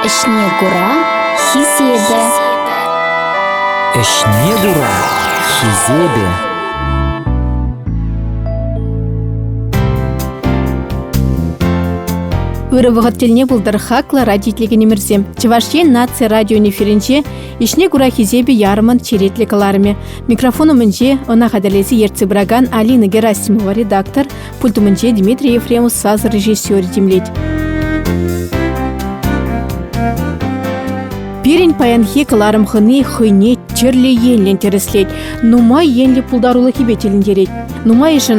Ӗҫне кура хисепӗ. Ӗҫне кура хисепӗ. Ырӑ вӑхӑт тӗлне пултӑр хаклӑ радиотелекенӗмӗрсем. Чӑваш Ен наци радион эфирӗнче ӗҫне кура хисепӗ ярӑмӑн черетлӗ кӑларӑмӗ. Микрофон умӗнче ӑна хатӗрлесе ертсе пыракан Алина Герасимова редактор, Пульт умӗнче Дмитрий Ефремов сасӑ режиссерӗ тимлет. Пирӗн паянхи кӑларӑм хӑни хӑйне тӗрлӗ енлӗн тӗрӗслет, нумай енлӗ пултарулӑхӗпе тӗлӗнтерет. Нумайӑшӗ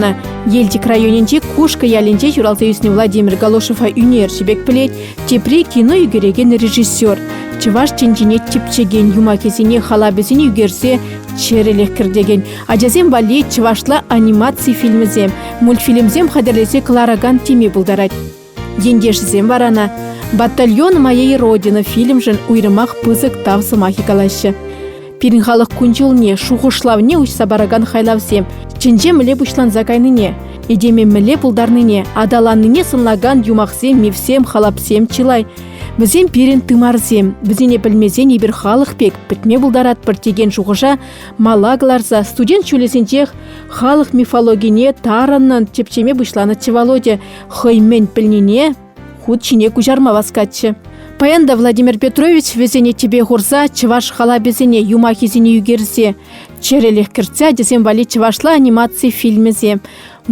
Елчӗк районӗнчи Кушкӑ ялӗнче ҫуралса ӳснӗ Владимир Галошева ӳнерҫӗ пек пӗлет, тепри кино ӳкерекен режиссер. Чӑваш тӗнчине типчекен юмахӗсене халапӗсене ӳкерсе чӗрӗлӗх кӗртекен Ачасем валли чӑвашла анимаци фильмӗсем, мультфильмсем хатӗрлесе кӑларакан теме пултарать. Ентешӗсем вара ӑна «Батальон моей родины» фильмшӗн уйрӑмах пысӑк тав сӑмахӗ калаҫҫӗ. Пирӗн халӑх кун-ҫулне, шухӑшлавне уҫса паракан хайлавсем чӗнче мӗле пуҫланса кайнине, этеме мӗнле пултарнине, аталаннине сӑнлакан юмахсем, мифсем, халапсем чылай. Вӗсем пирӗн тымарсем. Вӗсене пӗлмесен эпир халӑх пек пӗтме пултаратпӑр текен шухӑша мала кӑларса студент ҫулӗсенчех халӑх мифологине тарӑннӑн тӗпчеме пуҫланӑччӗ Володя хӑй мӗн пӗлнине хут ҫине куҫарма васкатчӗ. Паян та Владимир Петрович вӗсене тӗпе хурса чӑваш халапӗсене юмахӗсене ӳкерсе, чӗрӗлӗх кӗртсе ачасем валли чӑвашла анимаци фильмӗсем,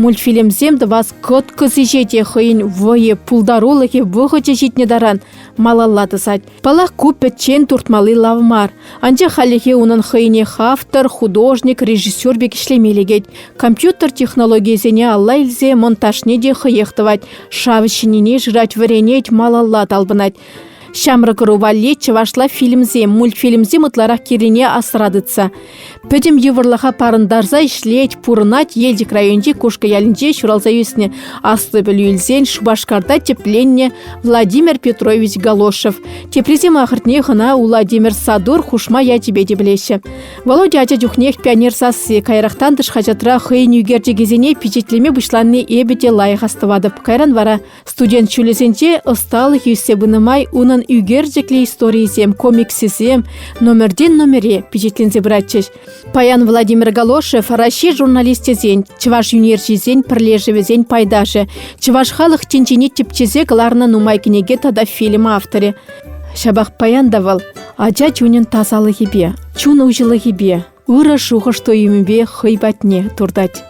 мультфильмсем тӑвас кӑткӑс ӗҫе те хӑйӗн вӑйӗ, пултарулӑхӗ, вӑхӑчӗ ҫитнӗ таран малалла тӑсать. Паллах, ку пӗччен туртмалли лав мар, анчах хальлӗхе унӑн хӑйӗнех автор, художник, режиссер пек ӗҫлеме лекет. Компьютер технологийӗсене алла илсе монтажне те хӑех тӑвать, шав ҫинине шырать, вӗренет, малалла талпӑнать. Ҫамрӑк ӑру валли чӑвашла фильмсем, мультфильмсем ытларах кирлине асра тытса Пӗтӗм йывӑрлӑха парӑнтарса ӗҫлет, пурӑнать Елчӗк районӗнчи Кушкӑ ялӗнче ҫуралса ӳснӗ. Аслӑ пӗлӳ илсен Шупашкарта тӗпленнӗ Владимир Петрович Галошев. Теприсем ахӑртнех ӑна Владимир Садур хушма ячӗпе те пӗлеҫҫӗ. Володя ача чухнех пионер сасси, каярахтан тӑш хаҫатра хӑйӗн ӳкерчӗкӗсене пичетлеме пуҫланни эпӗ те лайӑх астӑватӑп. Кайран вара Студент ҫулӗсенче ӑсталӑх ӳссе пынӑ май унӑн ӳкерчӗклӗ историйӗсем, комиксӗсем номертен номере пичетленсе пыратчӗҫ. Паян Владимир Галошев Раҫҫей журналисчӗсен, чӑваш юнерҫисен пӗрлешӗвӗсен пайташӗ, чӑваш халӑх тӗнчине тӗпчесе кӑларнӑ нумай кӗнеке тата фильм авторӗ. Ҫапах паян та вӑл ача чунӗн тасалӑхӗпе, чун уҫӑлӑхӗпе, ырӑ шухӑш-туйӑмӗпе хӑй патне туртать.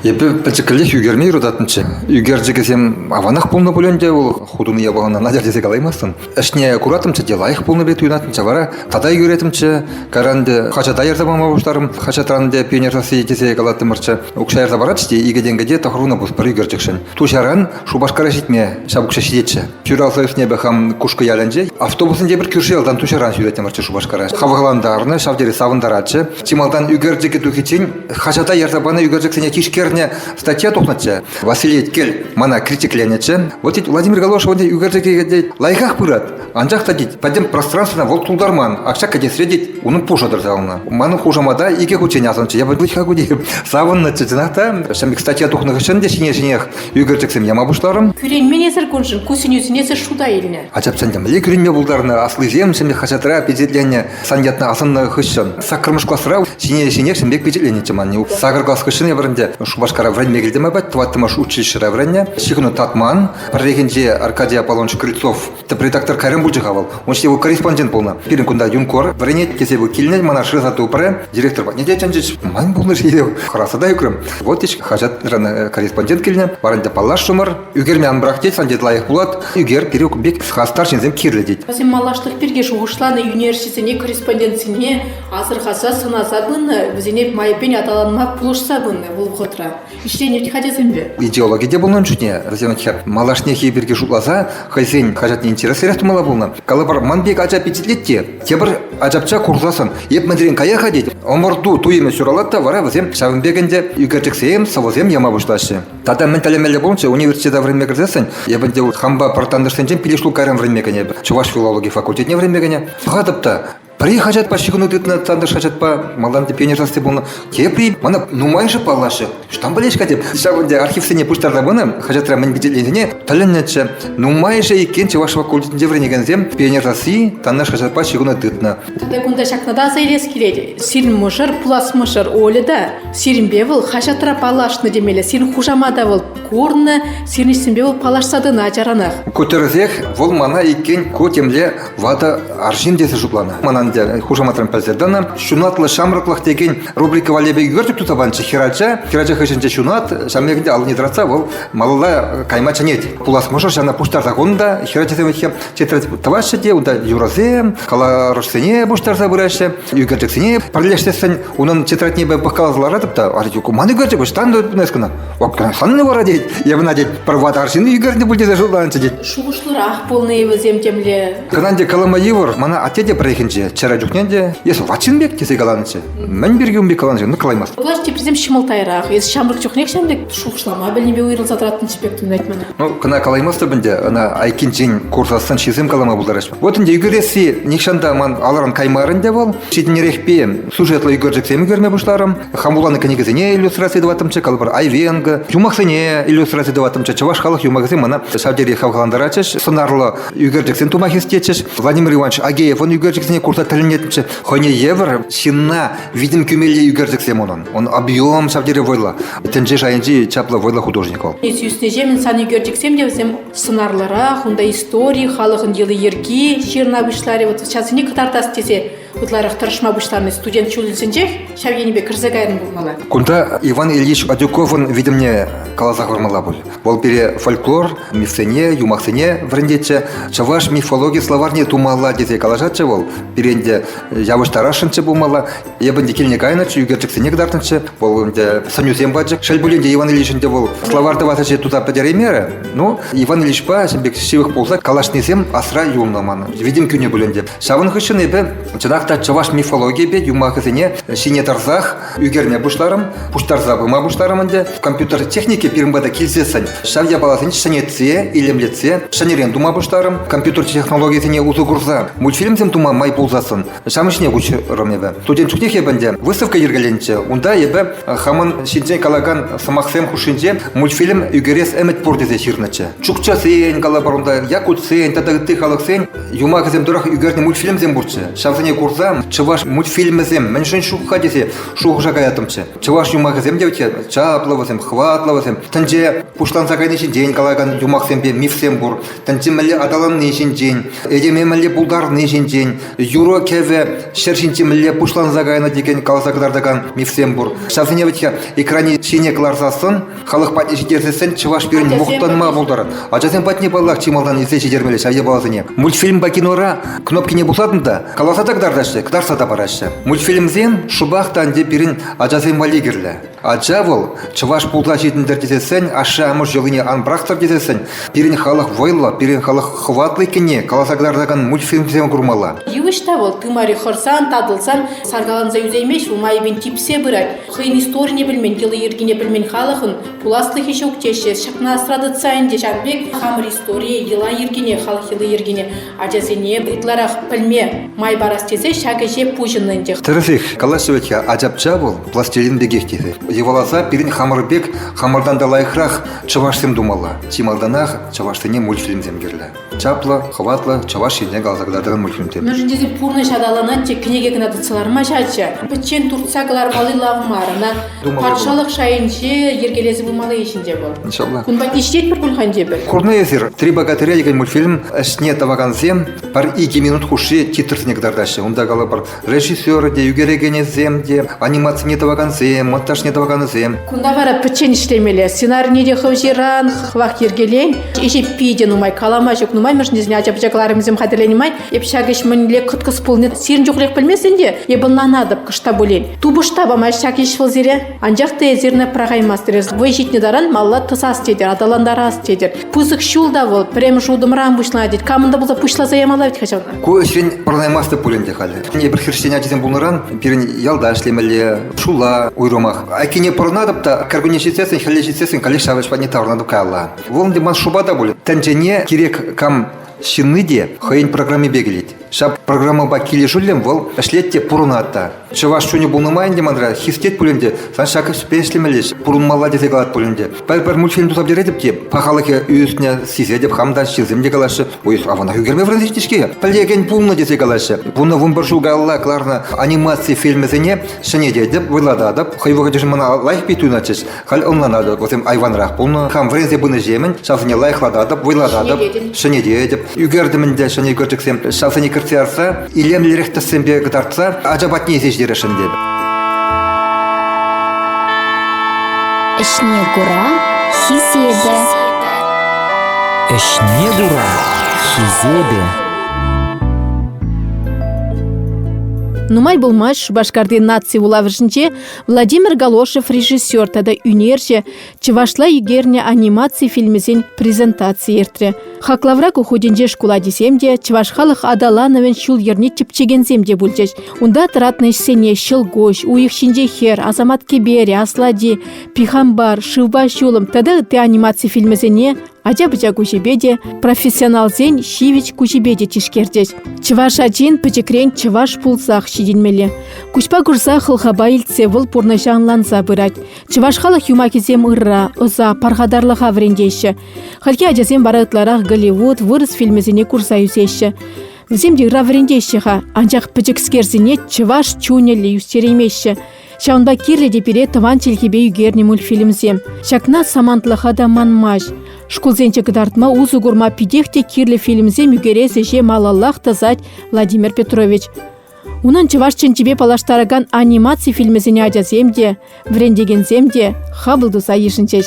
Эпӗ пӗчӗккӗлех ӳкерме юрататӑнччӗ. Ӳкерчӗкӗсем аванах пулнӑ пуль ӗнтӗ, вӑл хутӑн япалана надер тесе калаймастӑн. Ӗҫне куратӑмччӗ те лайӑх пулнӑ пек туйӑнатӑнччӗ. Вара тата ӳкеретӗмччӗ. Кайран те хаҫата ярса пама пуҫларӑм. Хаҫатран те пионер сасси тесе калаттӑмӑрччӗ. Укҫа ярса паратчӗ те икӗ тенкӗ те тӑхӑрунӑ пус пӗр ӳкерчӗкшӗн. Туҫаран Шупашкара ҫитме ҫав укҫа ҫитетчӗ. Ҫуралса ӳснӗ эпӗ хам Кушкӑ ялӗнче. Автобусӗнче пӗр кӳрши ялтан туҫаран ҫӳретӗмӗрччӗ Шупашкара. Хавхалантарнӑ, ҫав тери савӑнтаратчӗ. Чи малтан ӳкерчӗкӗ тухиччен хаҫата ярса панӑ ӳкерчӗксене тишкернӗ статья тухнӑччӗ. Василий Кел мана критикленӗччӗ. Вот тет Владимир Галошев ӳкерчӗкӗ лайӑхах пырать. Анчах та, тет, пӗтӗм пространствӑна вӑл тултарман. Ак кӗтесре, тет, унӑн пушӑ тӑрса юлнӑ. Ман хушамата икӗ хутчен асӑнчӗ. Я пӗлет-ха ку тейӗп. Савӑннӑччӗ чӑнах та. Ҫын статья тухнӑ хыҫҫӑн те ҫине-ҫинех ӳкерчӗксем яма пуҫларӑм. Кӳренмен эсӗр куншӑн ку сӗнӳсене эсӗ шута илнӗ. Ачап чӑн тӗмле кӳренме пултарнӑ аслисем ҫемье хаҫатра пичетленнӗ сан ятна асӑннӑ хыҫҫӑн саккӑрмӗш класра ҫине-ҫинех ҫемье пичетленнӗччӗ ман. Сакӑр класс хыҫҫӑн эпӗр ӗнтӗ Шупашкара вӗренме килтӗм апат, тӑваттӑмӗш училищӗра вӗреннӗ. Ҫыхӑну татман. Пӗррехинче Аркадий Аполлонович Крыльцов тӗп редактор кайран пулчӗ-ха вӑл. Он его корреспондент пулнӑ. Пирӗн кунта юнкор вӗренет тесе вы килнӗ мана шыраса тупрӗ. Директор патне те чӗнчӗҫ. Ман пулнӑш ейӗв. Хӑраса та ӳкрӗм. Вот ич хаҫатран э, корреспондент килнӗ. Варӑнта паллашрӑмӑр. Ӳкерме ан брах тет, сан тет лайӑх пулат. Ӳкер пирек бек хастар ҫынсем кирлӗ тет. Васим малашлӑх пирки шухӑшланӑ ӳнерҫӗсене, корреспондентсене асӑрхаса сӑнаса пынӑ, вӗсене майӗпен аталанма пулӑшса пынӑ вӑл вӑхӑтра. ӗҫленӗ вӗт ачасемпе. Идеологи те пулнӑн шутне, Розина хӗр малашнехи пирки шутласа хӑйсен хаҫатне интереслӗрех тумала пулнӑ. Калӑпӑр, ман пек ача пичетлет те, тепӗр ачапча курсассӑн, эп мӗнрен кая-ха тет, ӑмӑрту туйӑмӗ ҫуралать та вара вӗсем ҫавӑн пек ӗнтӗ ӳкерчӗксем, сӑвӑсем яма пуҫлаҫҫӗ. Тата мӗн тӗллемелле пулнӑччӗ университета вӗренме кӗрсессӗн, эп ӗнтӗ хампа пӗр тантӑшсенчен пилеш лукайран вӗренме кӗнӗ эпӗ, чӑваш филологи факультетне вӗренме кӗнӗ. Пӑхатӑп та, Пӗри хаҫатпа ҫыхӑну тытнӑ, тантӑш хаҫатпа малтан тӗпленӗ сасси пулнӑ. Тепри мана нумайӑшӗ паллашрӗ. Штамп пӗлеҫ-ха теп. Ҫав ӗнтӗ архивсене пуҫтарса пынӑ, хаҫатра мӗн пичетленнине тӗлӗннӗччӗ. Нумайӑшӗ иккен Чӑваш факультетӗнче вӗренекенсем пионер сасси тантӑш хаҫатпа ҫыхӑну тытнӑ. Тепӗр кунта ҫакна та аса илес килет. Сирӗн мӑшӑр, пулас мӑшӑр Оля та сирӗнпе вӑл хаҫатра паллашнӑ темелле. Сирӗн хушамата вӑл курнӑ, сирӗн ӗҫсемпе вӑл паллашса тӑнӑ ачаранах. Ку тӗрӗсех, вӑл мана иккен ку темле Ватӑ арҫын тесе шутланӑ. Мана те хушаматран пӗлсе тӑнӑ. Ҫунатлӑ ҫамрӑклӑх текен рубрика валли пек ӳкертӗп туса панчӗ хӗрача. Хӗрача хыҫӗнче ҫунат, ҫавӑн пекене аллине тӑратса вӑл малалла кайма чӗнет. Пулас мӑшӑр ҫавна пуҫтарса хунӑ та хӗрачасем тетрадь тӑваҫҫӗ те унта юрӑсем, каларӑшсене пуҫтарса пыраҫҫӗ. Ӳкерчӗксене пӗрлештерсен унӑн тетрадьне пӑхкаласа ларатӑп та, а ман ӳкерчӗк ӑҫтан тунас кӑна? Октанханни вара тет, евна тет, пӗр ват арҫын ӳкернӗ пуль тесе шутланчӗ тет. Шухӑшлӑрах пулнӑ-и вӗсем темле. Кӑнан те калама йывӑр, мана атте те пӗррехинче, чӗрӗ чухне те, эсӗ ватҫын пек тесе каланчӗ. Мӗн пирки ун пек каланчӗ, ну калаймасть. Власть теприсем ҫӑмӑлтайрах. Эс ҫамрӑк чухнех ҫамрӑк шухӑшлама пӗлнипе уйрӑлса тӑратӑн типек тунать мана. Ну кӑна калаймастӑп ӗнтӗ, ӑна айккинчен курсассӑн ҫисем калама пултарать. Вот ӗнтӗ ӳкересси нихҫан та ман алран каймарӗ ӗнтӗ вӑл. Ҫитӗнерехпе сюжетлӑ ӳкерчӗксем ӳкерме пуҫларӑм. Хам вуланӑ кӗнекесене иллюстраци тӑваттӑмччӗ, калӑпӑр айвенко, юмахсене иллюстраци тӑваттӑмччӗ. Чӑваш халӑх юмахӗсем мана ҫав тери хавхалантаратчӗҫ. Сӑнарлӑ ӳкерчӗксем тума хистетчӗҫ. Владимир Иванович Агеевӑн ӳкерчӗксене курса тӗлӗнетчӗ. Хӑйне евӗр ҫынна витӗм кӳмелли ӳкерчӗксем унӑн. Ун объем ҫав тери вӑйлӑ. Тӗнче шайӗнчи чаплӑ вӑйлӑ художник вӑл. Ӳснӗҫемӗн сан ӳкерчӗксем те вӗсем сӑнарлӑрах, унта истори, халӑхӑн йӑли-йӗрки ҫырӑна пуҫларӗ. Вот ҫавсене кӑтартас тесе ытларах тӑрӑшма пуҫлани студент ҫулӗсенчех ҫав енӗпе кӗрсе кайран пулмалла. Кунта Иван Ильич Адюковӑн витӗмне каласа хӑвармалла пуль. Вӑл пире фольклор, мифсене, юмахсене вӗрентетчӗ, чӑваш мифологи словарьне тумалла тесе калаҫатчӗ вӑл. Пирен те явӑҫтарасшӑнччӗ пулмалла. Эпӗ ӗнтӗ килне кайнӑччӗ, ӳкерчӗксене кӑтартнӑччӗ. Вӑл ӗнтӗ сӑнӳсем пачӗ. Шел пулин те Иван Ильичӑн те вӑл словарь тӑвас ӗҫе туса пӗтереймерӗ. Ну, Иван Ильичпа ҫын пек ҫывӑх пулса калаҫнисем асра юлнӑ манӑн. Витӗм кӳнӗ пуль ӗнтӗ. Ҫавӑн хыҫҫӑн эпӗ чӑнах та чӑваш мифологийӗпе юмахӗсене ҫине тӑрсах ӳкерме пуҫларӑм, пуҫтарса пыма пуҫларӑм ӗнтӗ. Компьютер техники пирӗн пата килсессӗн ҫав япаласене ҫӗнетсе, илемлетсе ҫӗнӗрен тума пуҫларӑм, компьютер технологийӗсене усӑ курса. Мультфильмсем тума май пулсассӑн ҫавӑн ҫине куҫрӑм эпӗ. Студент чухнех эпӗ ӗнтӗ выставка йӗркеленчӗ. Унта эпӗ хамӑн ҫинчен калакан сӑмахсем хушшинче мультфильм ӳкерес ӗмӗт пур тесе ҫырнӑччӗ. Чукчасен, калӑпӑр унта, якутсен тата ытти халӑхсен юмахӗсем тӑрӑх ӳкернӗ мультфильмсем пурччӗ. Ҫавсене курса чӑваш мультфильмӗсем мӗншӗн ҫук-ха тесе шухӑша каяттӑмччӗ. Чӑваш юмахӗсем те вӗт чаплӑ вӗсем, хӑватлӑ вӗсем. Тӗнче пуҫланса кайни ҫинчен калакан юмахсемпе мифсем пур. Тӗнче мӗнле аталанни ҫинчен, этеме мӗнле пултарни ҫинчен, юрӑ-кӗвӗ ҫӗр ҫинче мӗнле пуҫланса кайнӑ текен каласа кӑтартакан мифсем пур. Ҫавсене вӗт экранӗ ҫине кӑларсассӑн Халӑх патне ҫитерсессӗн чӑваш пирӗн мухтанма пултар. Ачасем патне паллах чи малтан илсе ҫитермелле ҫав япаласене. Мультфильмпа кинора кнопкине пусатӑн та каласа та кӑтартаҫҫӗ, кӑтартса та параҫҫӗ. Мультфильмсем шӑпах та ӗнтӗ пирӗн ачасем валли кирлӗ. Ача вӑл чӑваш пулса ҫитӗнтӗр тесессӗн, ашшӗ-амӑш йӑлине ан пӑрахтӑр тесессӗн пирӗн халӑх вӑйлӑ, пирӗн халӑх хӑватлӑ иккенне каласа кӑтартакан мультфильмсем курмалла. Йывӑҫ та вӑл тымари хӑрсан, татӑлсан саркаланса ӳсеймест, у майӗпен типсе пырать. хӑйӗн историне пӗлмен, йӑли-йӗркине пӗлмен халӑхӑн пуласлӑхӗ ҫук теҫҫӗ. Ҫакна асра тытса ӗнтӗ ҫав пек хамӑр историе, йӑла-йӗркине, халӑх йӑли-йӗркине ачасене ытларах пӗлме май парас тесе ҫак ӗҫе пуҫӑннӑ ӗнтӗ. Тӗрӗсех, калаҫҫӗ вӗт-ха, ачапча вӑл пластилин пекех тесе. Йӑваласа пирӗн хамӑр пек хамӑртан та лайӑхрах чӑвашсем тумалла. Чи малтанах чӑвашсене мультфильмсем кирлӗ. чаплӑ, хӑватлӑ Чӑваш Ене каласа кӑтартрӑм мультфильм. Мӗншӗн тесен пурнӑҫ аталанать, те кӗнеке кӑна татса лармасть ача. Пӗччен туртса кӑлармалли лав мар. Ӑна патшалӑх шайӗнче йӗркелесе пымалли ҫинче вӑл. Иншалла. Кунпа ишетпӗр пуль-ха ӗнтӗ эпир? Курнӑ эсир, «Три богатыря» текен мультфильм ӗҫне тӑвакансем пӗр икӗ минут хушши титрсене кӑтартаҫҫӗ. Унта калӑпӑр, Режиссер те, ӳкерекенӗсем те, анимацине тӑвакансем, монтажне тӑваканӗсем. Кунта вара пӗччен ӗҫлемелле. Сценарне те хӑҫыран хӑвах йӗркелен. Ӗҫе питӗ нумай, калама ҫук нумай. Мӗшӗнсене ача-пӑча кӑларӑмӗсем хатӗрленӗ май эп ҫак ӗҫ мӗнле кӑткӑс пулни сирӗн чухлех пӗлместӗн те, эп ӑнланатӑп кӑшта пулин. Тупӑшта памасть ҫак ӗҫ вӑл сире. Анчах та эсир ӑна пӑрахаймастӑр. Вӑй ҫитнӗ таран малла тӑсас тетӗр, аталантарас тетӗр. пысӑк ҫул та вӑл пӗрремӗш утӑмран пуҫланать, тет. Камӑн та пулса пуҫласа ямалла вӗт-ха ҫавна. Ку ӗҫрен пӑрӑнаймастӑп пуль ӗнтӗ халӗ. Эпир хресчен ачисем пулнӑран пирӗн ялта ӗҫлемелле, шула уйрӑмах. Айккине пӑрӑнатӑп та кӗркунне ҫитсессӗн, хӗлле ҫитсессӗн каллех ҫавӑҫ патне таврӑнатӑп каялла. Вӑл ӗнтӗ ман шӑпа та пуль. Тӗнчене кирек кам Ҫынни те хӑйӗн программипе килет. Ҫав программӑпа килӗшӳллӗн вӑл ӗҫлет те пурӑнать та. Чӑваш чунӗ пулнӑ май ӗнтӗ манра хистет пулин те, сан ҫак ӗҫпе ӗҫлемелле, пурӑнмалла тесе калать пулин те. Пӗр-пӗр мультфильм туса пӗтеретӗп те, пахалӑхӗ ӳснӗ, сисетӗп, хам та ҫынсем те калаҫҫӗ. Ой, аванах ӳкерме вырнаҫнӑ-ҫке. Пӗлекен пулнӑ тесе калаҫҫӗ. Вунӑ вунпӗр ҫул каялла кӑларнӑ анимаци фильмӗсене ҫӗнететӗп, вӑйлататӑп. Хӑй вӑхӑтӗшӗн мана лайӑх пит туйӑнатчӗҫ. Халь ӑнланатӑп, вӗсем айванрах пулнӑ. Хам вӗренсе пынӑҫемӗн ҫавсене лайӑхлататӑп, вӑйлататӑп, ҫӗнететӗп. Ӳкертӗм ӗнтӗ ҫӗнӗ ӳкерчӗксем. Ҫавсене кӗртсе ярса, илемлӗрех тӗссемпе кӑтартса ача патне илсе ҫитересшӗн тетӗп. Ӗҫне кура хисепӗ. Ӗҫне кура хисепӗ. Нумай пулмасть Шупашкарти наци вулавӑшӗнче Владимир Галошев режиссер тата ӳнерҫӗ чӑвашла ӳкернӗ анимаци фильмӗсен презентаци иртрӗ. Хаклавра ку хутӗнче шкул ачисем те, чӑваш халӑх аталанӑвӗн ҫул-йӗрне тӗпчекенсем те пулчӗҫ. Унта тӑратнӑ ӗҫсене ҫӑлкуҫ, уйӑх ҫинче хӗр, асамат кӗперӗ, аслади, пихампар, шывпа ҫулӑм тата ытти анимаци фильмӗсене Ача-пӑча куҫӗпе те, профессионалсен ҫивӗч куҫӗпе те тишкерчӗҫ. Чӑваш ачин пӗчӗкрен чӑваш пулсах ҫитӗнмелле. Куҫпа курса хӑлхапа илтсе вӑл пурнӑҫа ӑнланса пырать. Чӑваш халӑх юмахӗсем ырра, ӑса, пархатарлӑха вӗрентеҫҫӗ. Хальхи ачасем вара ытларах Голливуд, вырӑс фильмӗсене курса ӳсеҫҫӗ. Вӗсем те ырра вӗрентеҫҫӗ-ха, анчах пӗчӗкскерсене чӑваш чунӗллӗ ӳстереймеҫҫӗ. Ҫавӑнпа кирлӗ те пире тӑван чӗлхепе ӳкернӗ мультфильмсем. Ҫакна самантлӑха та манмасть. Шкулсенче кӑтартма усӑ курма питех те кирлӗ фильмсем ӳкерес ӗҫе малаллах тӑсать Владимир Петрович. Унӑн чӑваш чӗнчипе паллаштаракан анимаци фильмӗсене ачасем те, вӗрентекенсем те хапӑл туса йышӑнчӗҫ.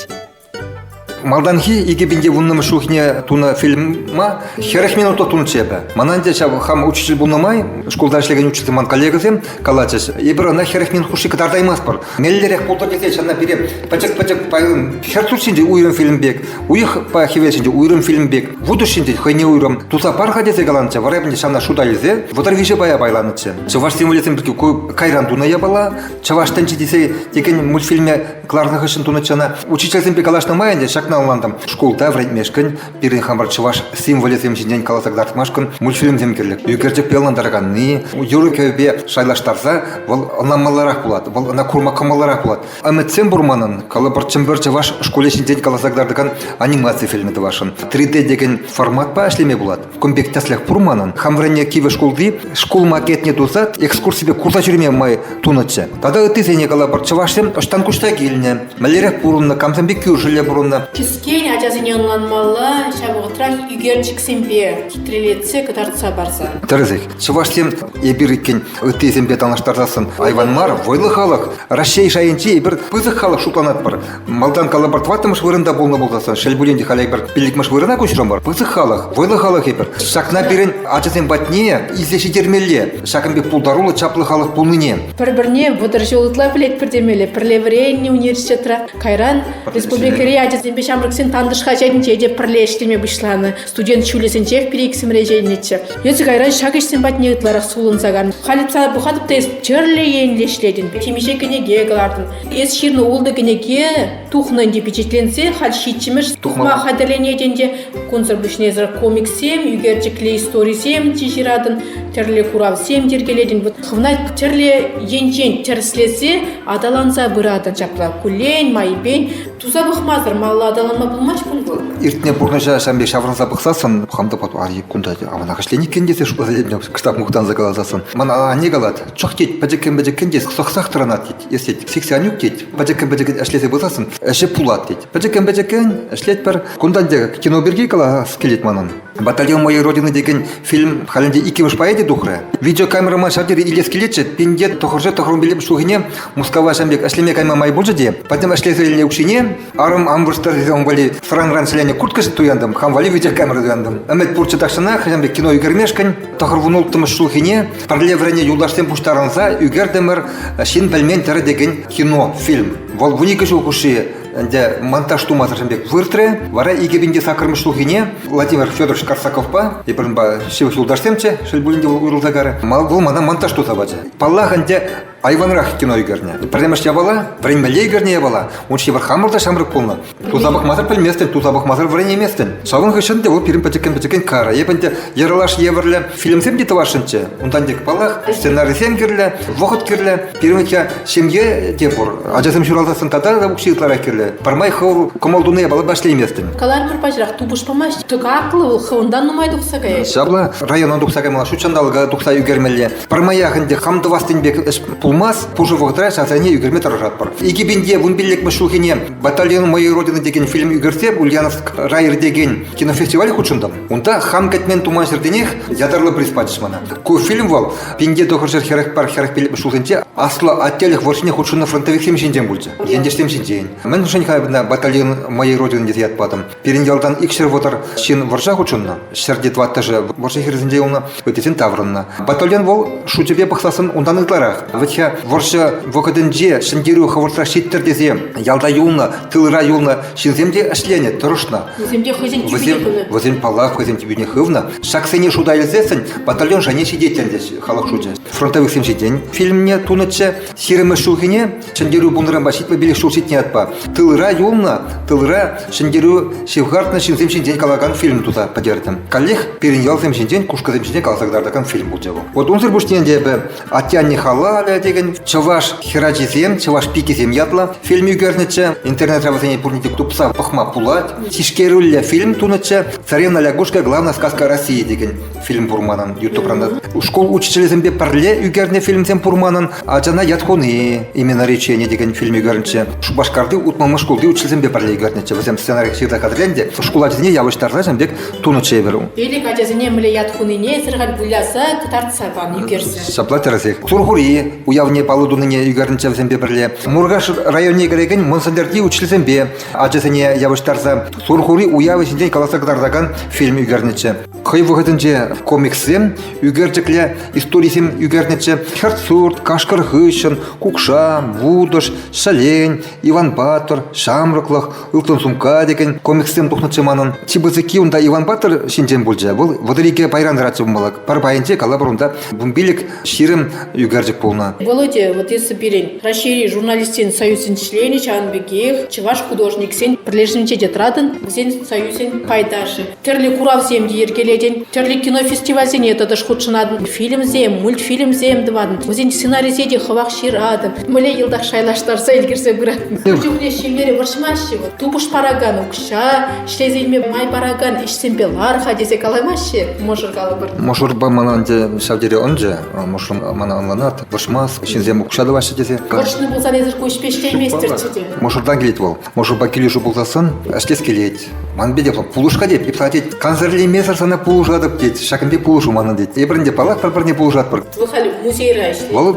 Малтанхи икӗ пин те вуннӑмӗш ҫулхине тунӑ фильма хӗрӗх минутла тунӑччӗ эпӗ. Мана ӗнтӗ ҫав хам учитель пулнӑ май шкулта ӗҫлекен учитель ман коллегӑсем калатчӗҫ, эпир ӑна хӗрӗх минут хушши кӑтартаймастпӑр. Меллӗрех пултӑр тесе ҫавна пире пӗчӗк-пӗчӗк файлым хӗр тус ҫинчен уйрӑм фильм пек, уйӑхпа хӗвел ҫинчен уйрӑм фильм пек, вутӑ ҫинчен хӑйне уйрӑм. Туса пар-ха тесе каланчӗ, вара эпне ҫавна шута илсе вӑтӑр виҫӗ пая пайланӑччӗ. Чӑваш символӗсем пирки кайран тунӑ япала, Чӑваш тӗнчи тесе текен мультфильме Кӑларнӑ хыҫҫӑн тунӑччена учительсемпе калаҫнӑ май ӗнтӗ ҫакна ӑнлантӑм. Шкулта вӗрентмешкӗн, пирӗн хамӑр чӑваш символӗсем ҫинчен каласа кӑтартмашкӑн мультфильмсем кирлӗ. Ӳкерчӗкпе ӑнлантараканни, юрӑ-кӗвӗпе шайлаштарса вӑл ӑнланмалларах пулать, вӑл ӑна курма кӑмӑлларах пулать. Ӗмӗтсем пур манӑн, калӑпӑр Чӗмпӗр чӑваш шкулӗ ҫинчен каласа кӑтартакан анимаци фильмӗ тӑвасшӑн. 3D текен форматпа ӗҫлеме пулать. Кун пек тӗслӗх пур манӑн. Хам вӗреннӗ кивӗ шкулти шкул макетне туса экскурсипе курса ҫӳреме май тунӑччӗ. Тата ыттисене калӑпӑр, чӑвашсем ӑҫтан куҫса килнӗ, мӗнлерех пурӑннӑ, камсемпе кӳршӗлле пурӑннӑ. Кӗскен ачасене ӑнланмалла, ҫав вӑхӑтрах ӳкерчӗксемпе хитрелетсе кӑтартса парса. Тӗрӗсех, чӑвашсем эпир иккен ыттисемпе танлаштарсассӑн айван мар, вӑйлӑ халӑх. Раҫҫей шайӗнчи эпир пысӑк халӑх шутланатпӑр. Малтан калӑпӑр тӑваттӑмӗш вырӑнта пулнӑ пулсассӑн, шел пулин те, халӗ эпир пиллӗкмӗш вырӑна куҫрӑмӑр. Пысӑк халӑх, вӑйлӑ халӑх эпир. Ҫакна пирӗн ачасем патне илсе ҫитермелле. Ҫакӑн пек пултаруллӑ, чаплӑ халӑх пулнине. Пӗр-пӗрне вӑтӑр ҫул ытла пӗлетпӗр темелле. Пӗрле вӗреннӗ университетра, кайран республикӑри ачасемпе ҫамрӑксен тантӑш хаҫатӗнче те пӗрле ӗҫлеме пуҫланӑ. Студент ҫулӗсенчех пилӗк иксӗмӗр ӗҫленӗччӗ. Эсӗ кайран ҫак ӗҫсем патне ытларах сулӑнса кан. Халь ыйтса пӑхатӑп та эс тӗрлӗ енлӗ ӗҫлетӗн. Темиҫе кӗнеке кӑлартӑн, Эс ҫырнӑ ултӑ кӗнеке тухнӑ ӗнтӗ пичетленсе, халь ҫиччӗмӗш тухма хатӗрленет ӗнтӗ. Кунсӑр пуҫнесӗр комикссем, ӳкерчӗклӗ историсем чи ҫыратӑн, тӗрлӗ куравсем йӗркелетӗн. Хӑвна тӗрлӗ енчен тӗрӗслесе аталанса пыратӑн ҫапла куллен, майӗпен. Туса пӑхмасӑр малла аталанма пулмасть кун вӑл. Иртнӗ пурнӑҫа ҫam пек ҫаврӑнса пӑхсассӑн, хам та пату, ари кунта, ама нахӑҫлен иккен тесе шутласа кӑштах мухтанса каласассӑн. Мана анне калать, чӑх тет пӗчӗккӗн-пӗчӗккӗн тет сӑхсах тӑранать тет эс тет сексянюк тет пӗчӗккӗн-пӗчӗккӗн ӗҫлесе пырсассӑн ӗҫӗ пулат тет пӗчӗккӗн-пӗчӗккӗн ӗҫлетпӗр кунтан тек кино пирки калас килет манӑн батальон моей родины текен фильм халӗнче иккӗмӗш поэти тухрӗ видеокамерӑма ҫав тери илес килетчӗ пинте тӑхӑрҫӑ тӑхӑрмиллӗмӗш ҫулхине мускава ҫам пек ӗҫлеме кайма май пулчӗ те пӗтӗм ӗҫлесе илнӗ укҫине Арӑм ампуш ун валли сӑранран сӗленӗ курткӑс туянтӑм, хам валли витӗр камера туянтӑм. Ӗмӗт пурччӗ тахҫанах хам пек кино ӳкермешкӗн. Тӑхӑрвун улттӑмӗш ҫулхине пӗрле вӗреннӗ юлташсем пуҫтарӑнса ӳкертӗмӗр «Ҫын пӗлмен тӗрӗ» текен кино фильм. Вӑл вун икӗ ҫул хушши ӗнтӗ монтаж тумасӑршӑн пек выртрӗ. Вара икӗ пин те саккӑрмӗш ҫулхине Владимир Федорович Карсаковпа, эпир унпа ҫывӑх юлташсемччӗ, шел пулин те, уйрӑлса карӗ, вӑл мана монтаж туса пачӗ. Паллах, ӗнтӗ Айванрах кино ӳкернӗ. Пӗрремӗш япала, вӗренмелле ӳкернӗ япала. Ун ҫывӑх хамӑр та ҫамрӑк пулнӑ. Туса пӑхмасӑр пӗлместӗн, туса пӑхмасӑр вӗренейместӗн. Ҫавӑн хыҫҫӑн те вӑл пирӗн пӗчӗккӗн-пӗчӗккӗн кара. Эп ӗнтӗ йӑрӑлаш евӗрлӗ фильмсем те тӑвасшӑнччӗ. Унтан тек, паллах, сценарисем кирлӗ, вӑхӑт кирлӗ. Пирӗн витя ҫемье те пур. Ачасем ҫуралсассӑн тата та укҫи ытларах кирлӗ. Пӗрмай хӑв кӑмӑл туни япала ваҫлейместӗн. Каларӑмӑр паҫӑрах тупӑш памасть. Тӑкаклӑ вӑл хӑвӑнтан нумай тухса каять. Ҫапла района тухса каймалла, ҫут ҫанталӑка тухса ӳкермелле. Пӗрмаях ӗнтӗ хам тӑвас пек ӗҫ пулмасть, пушӑ вӑхӑтра ҫавсене ӳкерме тӑрӑшатпӑр. 2015 ҫулхине «Батальон моей родины» текен фильм ӳкерсе Ульяновск рай иртекен кинофестиваль хутшӑнтӑм. Унта хам кӗтмен туман ҫӗртенех ятарлӑ приз пачӗҫ мана. Ку фильм вӑл пинте тӑхӑрҫӗр хӗрӗх пар хӗрӗх пилӗк ҫулсенче Аслӑ Аттелӗх вӑрҫине хутшӑннӑ фронтовиксем ҫинчен пулчӗ. Ентешсем ҫинчен. Мӗншӗн-ха мана «Батальон моей родины» тесе ят патӑм? Пирӗн ялтан икҫӗр вӑтӑр ҫын вӑрҫа хутшӑннӑ. Ҫӗрти тӑваттӑшӗ вӑрҫӑ хирӗсенче юлнӑ, ыттисен таврӑннӑ. Батальон вӑл шучӗпе пӑхсассӑн унтан ытларах. Вӗт-ха вӑрҫӑ вӑхӑтӗнче Ҫӗнтерӳ хӑвӑртрах ҫиттӗр тесе ялта юлнӑ, тылра юлнӑ ҫынсем те ӗҫленӗ, тӑрӑшнӑ. Вӗсем те хӑйсен тӳпине хывнӑ. Вӗсем паллах хӑйсен тӳпине хывнӑ. Ҫаксене шута илсессӗн батальон шайне ҫитет ӗнтӗ халӑх шучӗ. Фронтовиксем ҫитен фильмне тунӑччӗ. Ҫирӗммӗш ҫулхине Ҫӗнтерӳ пулнӑранпа ҫитмӗл пилӗк ҫул ҫитнӗ ятпа тылра юлнӑ, тылра ҫӗнтерӳ ҫывхартнӑ ҫынсем ҫинчен калакан фильм туса пӗтертӗм. Каллех пирӗн ялсем ҫинчен, кушкӑсем ҫинчен каласа кӑтартакан фильм пулчӗ вӑл. Вот унсӑр пуҫне ӗнтӗ эпӗ Атьяне халалӗ текен чӑваш хӗрачисем, чӑваш пикисем ятлӑ фильм ӳкернӗччӗ. Интернетра вӗсене пурне те тупса пӑхма пулать. Тишкерӳллӗ фильм тунӑччӗ. Царевна лягушка главная сказка России текен. фильм пур манӑн ютубран шкул учителӗсемпе пӗрле ӳкернӗ фильмсем пур манӑн ачана ят хуни имена речения текен фильм ӳкернӗччӗ шупашкарти утмӑлмӗш шкулти учительсемпе пӗрле ӳкернӗччӗ вӗсем сценарий ҫырса хатӗрленте шкул ачасене явӑҫтарса ҫын пек тунӑччӗ эпир пилӗк ачасене мӗнле ят хунине эсир халь выляса кӑтартса пан ӳкерсе ҫапла тӗрӗсех сурхури уявне паллӑ тунине ӳкернӗччӗ вӗсемпе пӗрле муркаш районне кӗрекен мӑнсӗлтӗрти учительсемпе ачасене явӑҫтарса сурхури уявӗ ҫинчен каласа кӑтартакан фильм ӳкернӗччӗ Хӑй вӑхӑтӗнче комикссем ӳкерчӗкле историсем ӳкернӗччӗ. Хӗрт сурт, кашкӑр хыҫҫӑн, кукша, вутӑш, ҫӗлен, Иван Паттӑр, ҫамрӑклӑх, ылтӑн сумка текен комикссем тухнӑччӗ манӑн. Чи пысӑкки унта Иван Паттӑр ҫинчен пулчӗ. Вӑл вӑтӑр пайран тӑратчӗ бумбалак. Пӗр пайӗнче калӑпӑр унта бумбилик ҫирӗм ӳкерчӗк пулнӑ. Володя, вот если пирӗн Раҫҫейри журналистсен союзӗн членӗ, ҫавӑн пекех чӑваш художниксен пӗрлешӗвӗнче те тӑратӑн, вӗсен союзӗн пайташӗ. тӗрлӗ куравсем те йӗркелетӗн, тӗрлӗ кинофестивальсене тӑтӑш хутшӑнатӑн, фильмсем, мультфильмсем тӑватӑн, вӗсен сценарийӗсе те хӑвах ҫыратӑн. Мӗнле йӑлтах шайлаштарса ӗлкӗрсе пыратӑн. Куҫумне ҫемьере вӑрҫмаҫҫӗ вӑл. Тупӑш паракан укҫа, ӗҫлесе илме май паракан ӗҫсемпе лар-ха тесе каламаҫҫӗ мӑшӑр калӑпӑр. Мӑшӑрпа мана ӗнтӗ ҫав тери ӑнчӗ. Мӑшӑр мана ӑнланат, вӑрҫмас, ҫынсем укҫа тӑваҫҫӗ тесе. Вӑрҫнӑ пулсан эсир ку ӗҫпе ӗҫлейместӗрччӗ те. Мӑшӑртан килет вӑл. Мӑшӑрпа килӗшӳ пулсассӑн ӗҫлес килет. Ман пекех пулӑш-ха тет, йӑпта тет, кансӗрлемесӗр сана пулӑшатӑп тет, ҫакӑн пек пулӑшу манӑн тет. Эпир ӗнтӗ паллах пӗр-пӗрне пулӑшатпӑр. Вӑл халӗ музейра ӗҫлет. Вӑл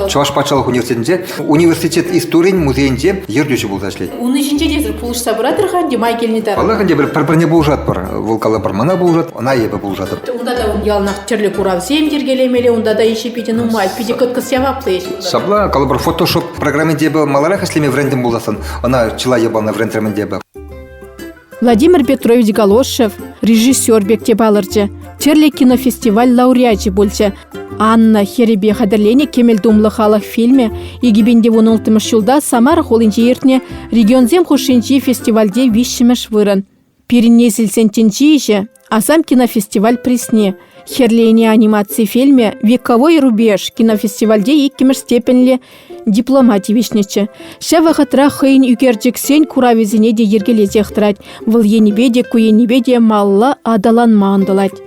э, Чӑваш патшалӑх университетӗнче университет историйӗн музейӗнче ертӳҫӗ пулса ӗҫлет. Унӑн ҫинче те пулӑшса пыратӑр-ха ӗнтӗ май килни таран. Паллах ӗнтӗ пӗр пӗрне пулӑшатпӑр. Вӑл калӑпӑр мана пулӑшат, ӑна эпӗ пулӑшатӑп. Унта та яланах тӗрлӗ куравсем йӗркелемелле, унта та ӗҫӗ питӗ нумай, питӗ кӑткӑс яваплӑ ӗҫ. Ҫапла, калӑпӑр фотошоп Программинче эпӗ маларах ӗҫлеме вӗрентӗм пулсассӑн, ӑна чылай япалана вӗрентрӗмӗн те эпӗ. Владимир Петрович Галошев режиссер пек те палӑрчӗ. Тӗрлӗ кинофестиваль лауреачӗ пулчӗ. Анна хӗрӗпе хатӗрленӗ кӗмӗл тумлӑ халӑх фильмӗ 2015 ҫулта Самара хулинче иртнӗ регионсем хушшинчи фестивальте виҫҫӗмӗш вырӑн. Пирӗн несӗлсен тӗнчи Асам кинофестиваль призне Хӗрлене анимаци фильмӗ «Вековой рубеж» кинофестивальте иккӗмӗш степеньлӗ диплома тивӗҫнӗччӗ. Ҫав вӑхӑтра хӑйӗн ӳкерчӗксен куравӗсене те йӗркелесех тӑрать, вӑл енӗпе те ку енӗпе те малла аталанма ӑнтӑлать.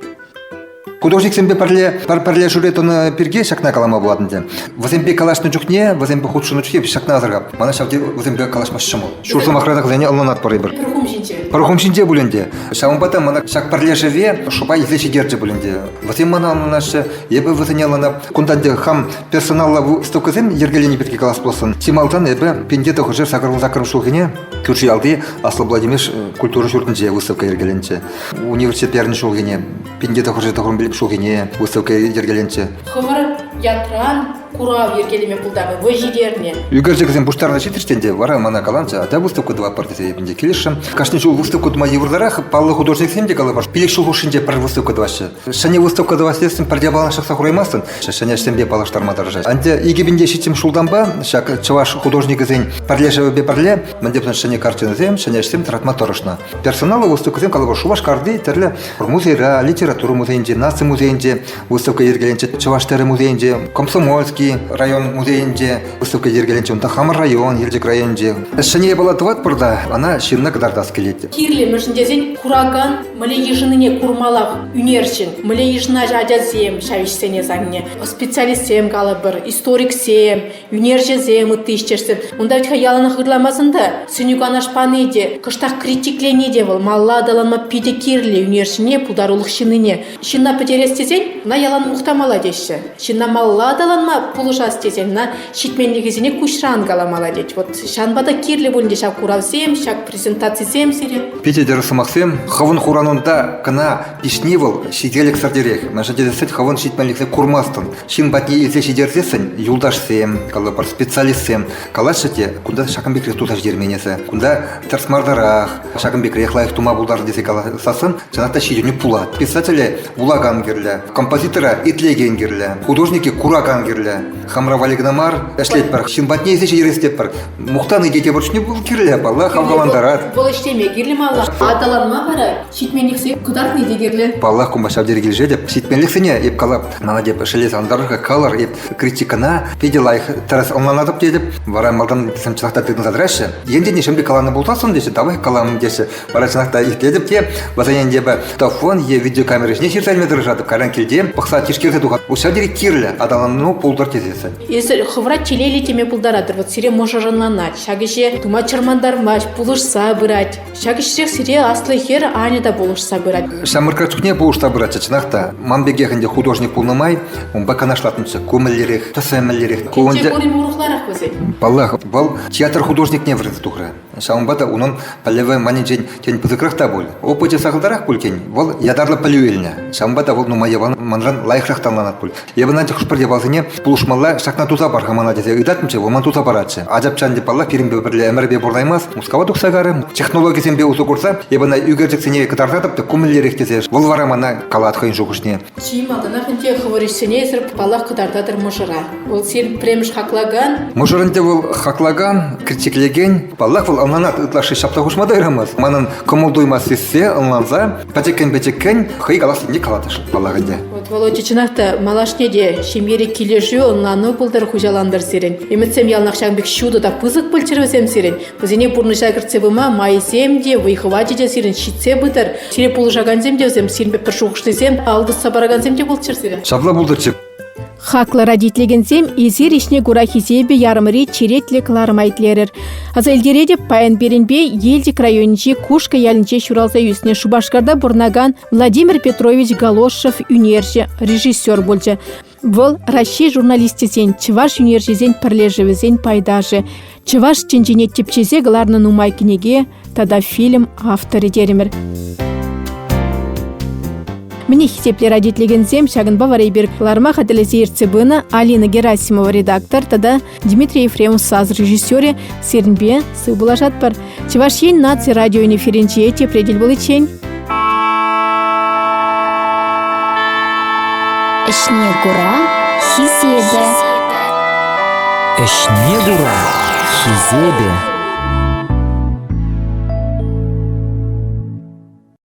Художниксемпе пӗрле пӗр пӗрлешӳре тӑнӑ пирки ҫакна калама пулать ӗнтӗ. Вӗсемпе калаҫнӑ чухне, вӗсемпе хутшӑннӑ чухне ҫакна асӑрхап. Мана ҫав тери вӗсемпе калаҫма ҫӑмӑл. Ҫур сӑмахра та вӗсене ӑнланатпӑр эпир. Пӗр хум ҫинче. Пӗр хум ҫинче пуль ӗнтӗ. Ҫавӑнпа та мана ҫак пӗрлешӗве шӑпа илсе ҫитерчӗ пуль ӗнтӗ. Вӗсем мана ӑнланаҫҫӗ, эпӗ вӗсене ӑнланам. Кунта ӗнтӗ хам персоналлӑ выставкӑсем йӗркелени пирки калас пулсан, чи малтан эпӗ Пенте тӑхӑрҫӗр сакӑрмӑн саккӑрмӗш ҫулхине Кӳрши ялти Аслӑ Владимир культура ҫуртӗнче выставка йӗркеленчӗ. университет первенство ҫулхине, пинте тӑхӑрҫи тӑхӑрӑн пилӗк ҫулхине выставка йӗркеленчӗ. Хӑмӑр ятран курав йӗркелеме пултарнӑ, вӑй ҫитернӗ. Ӳкерчӗксем пуҫтарса ҫитрӗҫ ӗнтӗ, вара мана каланчӗ, атя выставка тӑватпӑр тесе эпӗ ӗнтӗ килӗшрӗм. Кашни ҫул выставка тума йывӑртарах, паллӑ художниксем те калӑпӑр, пилӗк ҫул хушшинче пӗр выставка тӑваҫҫӗ. Ҫӗнӗ выставка тӑвас тесен пӗр япалана ҫыхса хураймастӑн, ҫӗнӗ ӗҫсемпе паллаштарма тӑрӑшать. Ӗнтӗ икӗ пинте ҫитсӗм ҫултанпа ҫак чӑваш художникӗсен пӗрлешӗвӗпе пӗрле Мӗн теприн ҫӗнӗ картинӑсем, ҫӗнӗ ӗҫсем тӑратма тӑрӑшнӑ. Персоналлӑ выставкӑсем, калӑпӑр, Шупашкарти тӗрлӗ музейра, литература музейӗнче, наци музейӗнче выставка йӗркеленчӗ, Чӑваш тӗрӗ музейӗнче, Комсомольский район музейӗнче выставка йӗркеленчӗ. Унта хамӑр район, Елчӗк районӗнче. Ҫӗнӗ япала тӑватпӑр та, ӑна ҫынна кӑтартас килет. Кирлӗ мӗншӗн тесен куракан мӗле йышӑннине курмаллах ӳнерҫӗн. Мӗле йышӑнаҫҫӗ ачасем ҫав ӗҫсене савне. Специалистсем, калӑпӑр, историксем, Ӳнерҫӗсем, ытти ӗҫтешсем. Унта вӗт-ха яланах ырламасан та сӗнӳ-канаш пани те, кӑштах критиклени те вӑл малла аталанма питӗ кирлӗ ӳнерҫӗне, пултарулӑх ҫыннине. Ҫынна пӗтерес тесен ӑна ялан мухтамалла теҫҫӗ. Ҫынна малла аталанма пулӑшас тесен ӑна ҫитменлӗхӗсене куҫран каламалла тет. Вот ҫанпа та кирлӗ пуль те ҫав куравсем, ҫак презентацисем сире. Питӗ тӗрӗс сӑмахсем. Хӑвӑн хуранунта кӑна пиҫни вӑл ҫителӗксӗртерех. Мӗншӗн тесен сӗт хӑвӑн ҫитменлӗхне курмастӑн. Ҫын патне илсе ҫитерсессӗн юлташсем, калӑпӑр, специалистсем калаҫҫӗ те кунта ҫакӑн пекрех туса ҫитермен эсӗ, кунта тӗрӗс мардарах, ҫакӑн пекрех лайӑх тума пултартӑр тесе каласассӑн чӑнах та ҫитӗнӳ пулать. Писателе вулакан кирлӗ, композитора итлекен кирлӗ, художнике куракан кирлӗ. Хамра валли кӑна мар, ӗҫлетпӗр, ҫын патне илсе ҫитерес тетпӗр. Мухтани те тепӗр чухне кирлӗ, паллах, хавхалантарать. Вӑл ӗҫлеме кирлӗ малла, аталанма вара ҫитменлӗхсем кӑтартни те кирлӗ. Паллах, кунпа ҫав тери килӗшетӗп. Ҫитменлӗхсене эп калап Надя пӗшӗле сантӑрӑшка кӑлӑр эп критикӑна питӗ лайӑх тӗрӗс ӑнланатӑп тетӗп. Вара малтан сем чӑнах та тытӑнса тӑраҫҫӗ. Енчен нимшӗн каланӑ пулсассӑн теҫҫӗ, тавах калам теҫҫӗ. Вара чӑнах та илтетӗп те, вӗсен ӗнтӗ телефон е видеокамера ҫине ҫырса илме тӑрӑшатӑп. Кайран килте пӑхса тишкерсе тухат, у ҫав тери кирлӗ аталану пултӑр тесессӗн. Эсир хӑвӑра телейлӗ теме пултаратӑр. Вот сире мӑшӑр ӑнланать, ҫак ӗҫе тума чӑрмантармасть, пулӑшса пырать. Ҫак ӗҫрех сире аслӑ хӗр Аня та пулӑшса пырать. Ҫамрӑкра чухне пулӑшса пыратчӗ чӑнах та. Ман пекех ӗнтӗ художник пулнӑ май унпа канашлатӑнччӗ. Ку мӗнлерех, тӑсӑ мӗнлерех. Ку ӗнтӗ пурин урӑхларах вӗсен. Паллах, вӑл театр художникне вӗренсе тухрӗ. Ҫавӑнпа та унӑн пӗлӗвӗ манӗнчен тен пысӑкрах та пуль. Опычӗ сахалтарах пуль тен, вӑл ятарлӑ пӗлӳ илнӗ. Ҫавӑнпа та вӑл нумай яван манран лайӑхрах танланать пуль. Эпӗ ӑна хӑш-пӗр япаласене пулӑшмалла ҫакна туса пар-ха мана тесе ыйтатӑмччӗ, вӑл ман туса паратчӗ. Ачапчан те паллах пирӗнпе пӗрле ӗмӗрпе пурӑнаймасть, Мускава тухса карӗ. Технологисемпе усӑ курса эпӗ ӑна ӳкерчӗксене кӑтартатӑп та кумӗллерех тесе вӑл вара мана калать хӑйӗн шухӑшне. Чи малтанах ӗнтӗ хӑвӑр ӗҫсене эсир паллах кӑтартатӑр мӑшӑра. Вӑл син пӗрремӗш хаклакан. Мӑшӑрӑн те вӑл хаклакан, критиклекен. Паллах, вӑл ӑнланать ытлашши ҫапса хушма та юрамасть. Манӑн кӑмӑл-туйӑма сиссе, ӑнланса пӗчӗккӗн-пӗчӗккӗн хӑй каласлине калатӑш паллах ӗнтӗ. Вот Володя чӑнах та малашне те ҫемьери килӗшӳ, ӑнлану пултӑр, хуҫалантӑр сирӗн. Ӗмӗтсем яланах ҫакӑн пек ҫутӑ та пысӑк пулччӑр вӗсем сирӗн. Вӗсене пурнӑҫа кӗртсе пыма майсем те, вӑй-хӑвачӗ те сирӗн ҫитсе пытӑр. Сире пулӑшакансем те вӗсем, сирӗн пек пӗр шухӑшлисем, ал тӑсса паракансем те пулччӑр сирӗн. Ҫапла пултӑрччӗ. Хаклӑ родительсем, эсир ӗҫне кура хисепӗ ярӑмри черетлӗ кӑларӑма итлерӗр. Аса илтеретӗп, паян пирӗнпе Елчӗк районӗнчи Кушкӑ ялӗнче ҫуралса ӳснӗ Шупашкарта пурӑнакан Владимир Петрович Галошев ӳнерҫӗ, режиссер пулчӗ. Вӑл Раҫҫей журналисчӗсен, чӑваш ӳнерҫисен пӗрлешӗвӗсен пайташӗ. Чӑваш тӗнчине тӗпчесе кӑларнӑ нумай кӗнеке тата фильм авторӗ терӗмӗр. Мӗне хисеплӗ радиотлекенсем ҫакӑнпа вара эпир кӑларма хатӗрлесе ертсе пынӑ Алина Герасимова редактор тата Дмитрий Ефремов саз режиссерӗ сирӗнпе сыв пулашатпӑр. Чӑваш Ен наци радиоэфирӗнче тепре тӗл пуличчен. Ӗҫне кура хисепӗ. Ӗҫне кура хисепӗ.